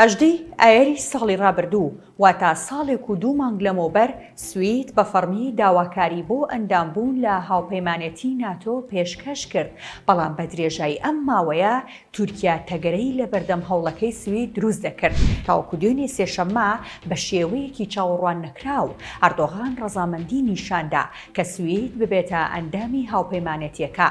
هەژدەی ئایەری ساڵی ڕابردوو، واتە ساڵێک و دوو مانگ لەمەوبەر، سوید بە فەڕمی داواکاری بۆ ئەندامبوون لە هاوپەیمانێتی ناتۆ پێشکەش کرد، بەڵام بە درێژایی ئەم ماوەیە تورکیا تەگەرەی لە بەردەم هەوڵەکەی سوید دروست دەکرد. تاوەکو دوێنێ سێشەممە، بە شێوەیەکی چاوەڕواننەکراو، ئەردۆغان ڕەزامەندی نیشاندا کە سوید ببێتە ئەندامی هاوپەیمانێتییەکە.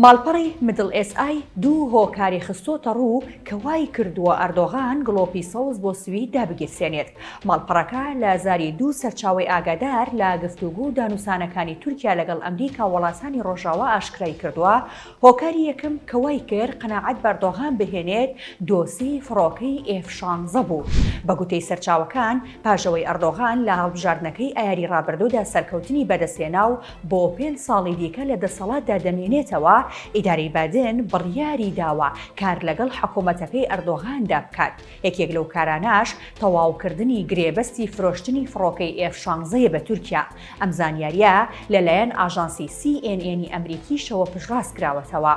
ماڵپەڕی مدڵ ئێس ئای دوو هۆکاری خستۆتەڕوو کە وایکردووە ئەردۆغان گڵۆپی سەوز بۆ سوید دابگیرسێنێت. ماڵپەڕەکە لە زاری دوو سەرچاوەی ئاگادار لە گفتوگۆ و دانوسانەکانی تورکیا لەگەڵ ئەمریکا وڵاتانی ڕۆژاوا ئاشکرایکردووە، هۆکاری یەکەم کە وای کرد قەناعەت بەردۆغان بهێنێت دۆسیەی فڕۆکەی ئێف شانزە بوو. بە گوتەی سەرچاوەکان، پاژەوەی ئەردۆغان لە هەڵبژاردنەکەی ئایاری رابردوودا سەرکەوتنی بەدەستهێنا و بۆ پێنج ساڵی دیکە لە دەسەڵاتدا دەمێنێتەوە، ئیدارەی بادن بڕیاری داوە کار لەگەڵ حکومەتەکەی ئەردۆغاندا بکات، یەکێک لەو کارانەش تەواوکردنی گرێبەستی فرۆشتنی فڕۆکەی ئێف شانزە یە بە تورکیا. ئەم زانیارییە لەلایەن ئاژانسی سی ئێن ئێنی ئەمریکیشەوە پشتڕاست کراوەتەوە.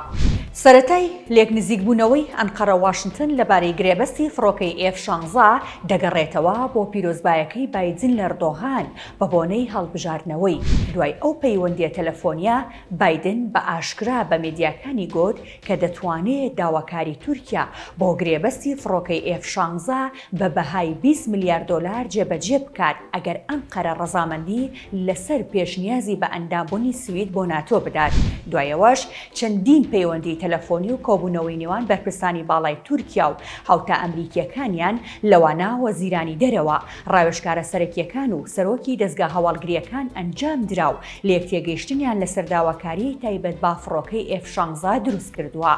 سەرەتای لێک نزیکبوونەوەی ئەنقەرە واشنتن لەبارەی گرێبەستی فڕۆکەی ئێف شانزە دەگەڕێتەوە بۆ پیرۆزبایەکەی بایدن لەردۆغان بەبۆنەی هەڵبژاردنەوەی. دوای ئەو پەیوەندییە تەلەفۆنییە بایدن بە ئاشکرا بە مێدیاکانی گوت، کە دەتوانێ داواکاری تورکیا بۆ گرێبەستی فڕۆکەی ئێف شانزە بە بەهای بیست ملیار دۆلار جێبەجێ بکات ئەگەر ئەنقەرە ڕەزامەندی لەسەر پێشنیازی بە ئەندامبونی سوید بۆ ناتۆ بدات، دوای ئەوەش چەندین پەیوەندی تەلەفۆنی و کۆبونەوەی نێوان بەرپرسانی باڵای تورکیا و هاوتا ئەمریکیەکانیان لەوانە وەزیرانی دەرەوە، ڕاوێژکارە سەرەکیەکان و سەرۆکی دەزگا هەواڵگریەکان ئەنجامدرا و لێکتێگەیشتنیان لەسەر داواکاریی تایبەت بە فڕۆکەی ئێف شانزە دروستکردووە.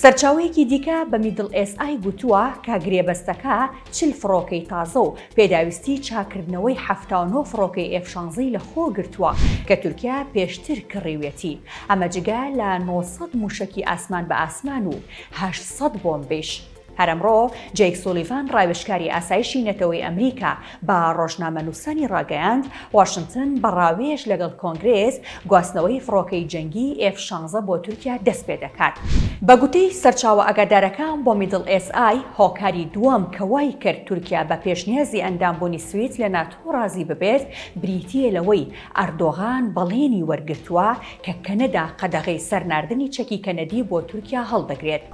سەرچاوەیەکی دیکە بە میدڵ ئێس ئای گوتووە کە گرێبەستەکە چل فڕۆکەی تازە و پێداویستیی چاککردنەوەی حەفتا و نۆ فڕۆکەی ئێف شانزەی لەخۆگرتووە کە تورکیا پێشتر کڕیویەتی، ئەمە جگە لە نۆ سەد مووشەکی ئاسمان بە ئاسمان و هەشت سەد بۆمبیش. هەر ئەمڕۆ جەیک سولیڤان ڕاوێژکاری ئاسایشی نەتەوەی ئەمریکا بە ڕۆژنامەنووسانی ڕاگەیاند، واشنتن بە ڕاوێژ لەگەڵ کۆنگرێس گواستنەوەی فڕۆکەی جەنگی ئێف شانزە بۆ تورکیا دەستپێدەکات. بە گوتەی سەرچاوە ئاگادارەکە بۆ میدڵ ئێس ئای، هۆکاری دووەم کە وایکرد تورکیا بە پێشنیازی ئەندامبوونی سوید لە ناتۆ ڕازی ببێت بریتییە لەوەی ئەردۆغان بەڵێنی وەرگرتووە کە کەنەدا قەدەغەی سەر ناردنی چەکی کەنەدی بۆ تورکیا هەڵدەگرێت.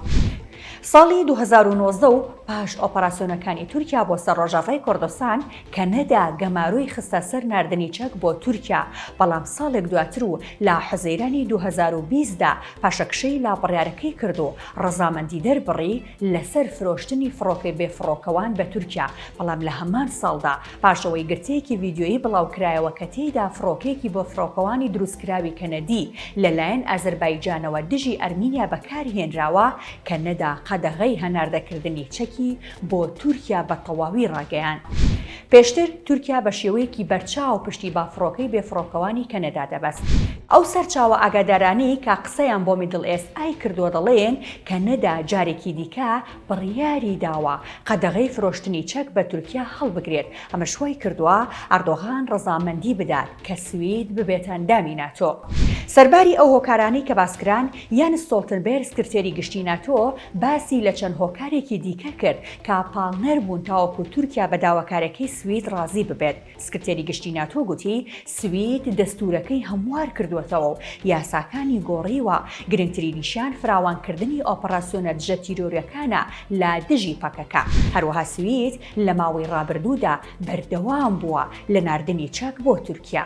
ساڵی دوو هەزار و نۆزدە و پاش ئۆپەراسیۆنەکانی تورکیا بۆ سەر ڕۆژاڤای کوردستان، کەنەدا گەمارۆی خستە سەر ناردنی چەک بۆ تورکیا، بەڵام ساڵێک دواتر و لە حوزەیرانی دوو هەزار و بیست دا پاشەکشەی لە بڕیارەکەی کرد و ڕەزامەندی دەربڕی لەسەر فرۆشتنی فڕۆکەی بێفڕۆکەوان بە تورکیا، بەڵام لە هەمان ساڵدا پاش ئەوەی گرتەیەکی ڤیدیۆیی بڵاوکرایەوە کە تێیدا فڕۆکەیەکی بۆ فڕۆکەوانی دروستکراوی کەنەدی لەلایەن ئازەربایجانەوە دژی ئەرمینیا بەکارهێنراوە کە نەدا قەدەغەی هەناردەکردنی چەکی بۆ تورکیا بە تەواوی ڕاگەیاند. پێشتر تورکیا بە شێوەیەکی بەرچاو پشتی بە فڕۆکەی بێفڕۆکەوانی کەنەدا دەبەست. ئەو سەرچاوە ئاگادارانەی کە قسەیان بۆ میدڵ ئێست ئای کردووە دەڵێن کە نەدا جارێکی دیکە بڕیاری داوە قەدەغەی فرۆشتنی چەک بە تورکیا هەڵبگرێت، ئەمەش وایکردووە ئەردۆغان ڕەزامەندی بدات کە سوید ببێتە ئەندامی ناتۆ. سەرباری ئەو هۆکارانەی کە باسکران، یانس ستۆڵتنبێرگ سکرتێری گشتی ناتۆ باسی لە چەند هۆکارێکی دیکە کرد کە پاڵنەر بوون تاوەکو تورکیا بە داواکاریەکەی سوید ڕازی ببێت، سکرتێری گشتی ناتۆ گوتی سوید دەستوورەکەی هەموار کردووەتەوە و یاساکانی گۆڕیوە، گرنگترینیشیان فراوانکردنی ئۆپەڕاسیۆنە دژە تیرۆریەکانە لە دژی پەکەکە. هەروەها سوید لە ماوەی ڕابردوودا بەردەوام بووە لە ناردنی چەک بۆ تورکیا.